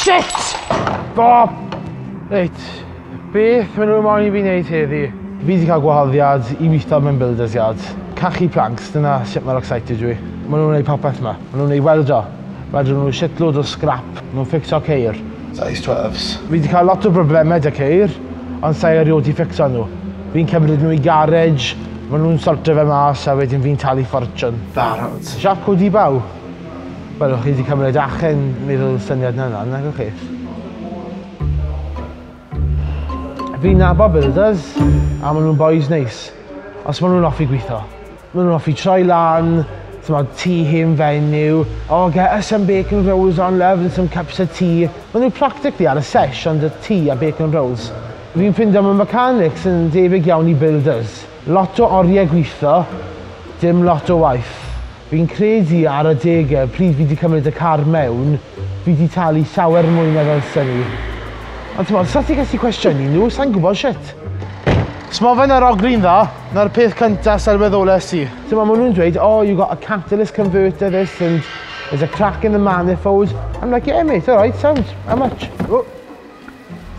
Shit! Bob! Reit, beth maen nhw'n moyn i fi wneud heddi? Fi wedi cael gwahoddiad i weithio mewn builder's yard. Cachu planks, dyna sut mae'r excited dwi. Maen nhw'n gwneud popeth yma. Maen nhw'n gwneud weldio. Wedyn nhw'n gwneud shitload o scrap. Maen nhw'n ffixio ceir. Size 12s. Fi wedi cael lot o broblemau da ceir, ond sa'i erioed i ffixio nhw. Fi'n cymryd nhw i garej, maen nhw'n sortio fe mas a wedyn fi'n talu ffortiwn. Barod. Siap codi baw. Wel o' chi 'di cymryd achen mi ro'dd y syniad 'na lan nagoch chi? Fi'n nabod builders a ma' nhw'n bois neis. Os ma' nhw'n offi gwitho. Ma' nhw'n offi troi lan, t'mod, tŷ hen fenyw, oh get us some bacon rolls on love and some cups of tea. Ma' nhw practically ar y sesh ond y tŷ a bacon rolls. Fi'n ffindo ma' mechanics yn debyg iawn i builders. Lot o orie gwitho, dim lot o waith. Fi'n credu ar adegau pryd fi 'di cymryd y car mewn, fi 'di talu llawer mwy na ddylsen i. Ond t'mod, os na ti'n gallu cwestiynu nhw, sai'n gwybod shwt. Os ma' fe'n arogli'n dda, 'na'r peth cynta sylweddolais i. T'mod, ma' nhw'n dweud, oh, you got a catalyst converter this and there's a crack in the manifold. I'm like, yeah mate, alright, sounds, how much?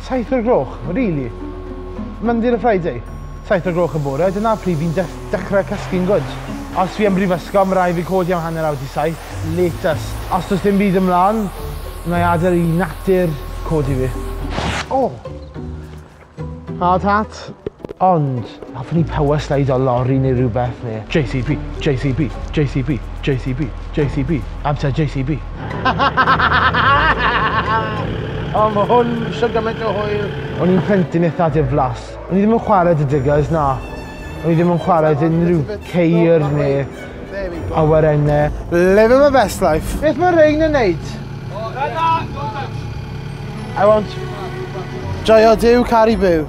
Saith o'r gloch? Really? Monday to Friday? Saith o'r gloch y bore, dyna pryd fi'n def- dechrau cysgu'n gwd. Os fi yn brifysgol, ma rai' fi codi am hanner awr 'di saith, latest. Os does dim byd ymlan, wna i adael i natur codi fi. O! Hard hat. Ond, hoffwn i power slide o lori neu rhywbeth neu... JCB, JCB, JCB, JCB, JCB, amser JCB. O, mae hwn eisiau gymaint o hwyl. O'n i'n plentyn eitha diflas. O'n i ddim yn chwarae dy diggers, na. O'n i ddim yn chwarae dy unrhyw ceir neu There we go. Awyrenne. Living my best life. Beth mae Rein yn neud? I want... Joio Dyw, Cari Byw.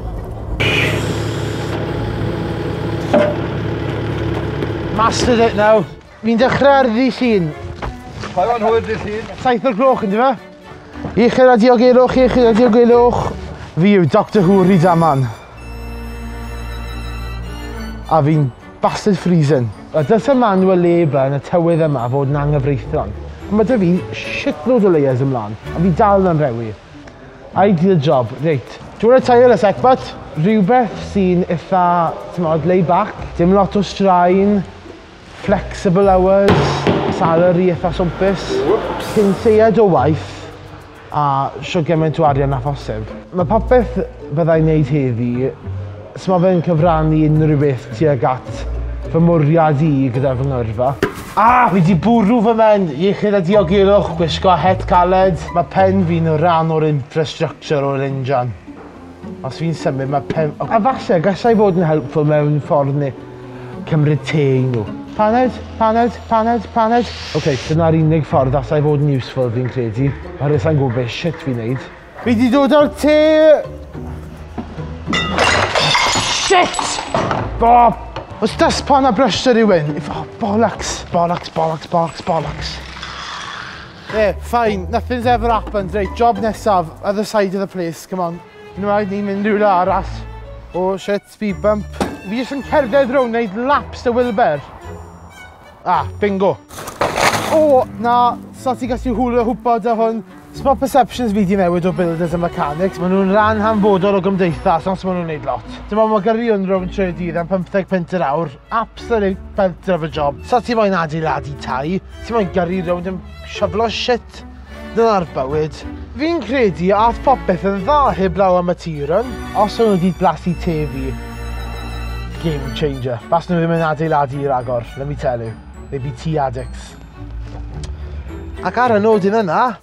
Mastered it now. Mi'n dechrau ar ddi llun. Pa o'n hwyr ddi llun? Saith o'r gloch yn di fe? Iechyd a diogelwch, iechyd a diogelwch. Fi yw Doctor Who Rydaman. A fi'n bastard freezing. A dylse Manuel Labour yn y tywydd yma fod yn anghyfreithlon. Ond mae 'da fi shitloads o layers yn mlan, a fi dal yn anrhewi. Ideal job. Reit. Do you want to tire a sec but? Rhywbeth sy'n itha, timod, laid back. Dim lot o straen. Flexible hours, salary eitha swmpus. Whoops! Cyn lleied o waith, a shwt gymaint o arian â phosib. Mae popeth fyddai'n neud heddi, so mae fe'n cyfrannu unrhyw beth tuag at fy mwriad i gyda fy ngyrfa. A! Fi 'di bwrw fy mhen! Iechyd a diogelwch, gwisgo het caled, mae pen fi'n rhan o'r infrastructure o'r injan. Os fi'n symud ma' pen- o- A falle gallai fod yn helpful mewn ffordd ne' cymryd te i nhw. Paned, paned, paned, paned. Ok, dyna'r unig ffordd allai fod yn useful fi'n credu, oherwydd sai'n gwybod be' shit fi'n neud. Fi 'di dod â'r te! Shit! O! O's dustpan a brush 'da rywun? If- O bollocks! Bollocks, bollocks, bollocks, bollocks. Yeah, fine, nothing's ever happened. Reit, job nesaf, other side of the place, come on. Yn rhaid ni'n mynd rhywle arall. Oh shit, speed bump. Fi jyst yn cerdded rownd, neud laps y Wilber. Ah, bingo. Oh, na, so ti gallu hwlio hwpo dy hwn. So mae perceptions fi di newid o builders a mechanics, maen nhw'n rhan hanfodol o gymdeithas, ond maen nhw'n neud lot. Dyma mae gyrion rownd tre dydd am 55 punt yr awr, Absolute belter of a job. Sa ti moyn adeiladu tai, ti moyn gyrru rownd yn shyflo shit. Dyna'r bywyd. Fi'n credu ath popeth yn dda heblaw am y tir yn. Os o'n nhw wedi blasu tê fi, game changer. Fas nhw ddim yn adeiladu i ragor, let me tell you. They'd be tea addicts. Ac ar y nodyn yna,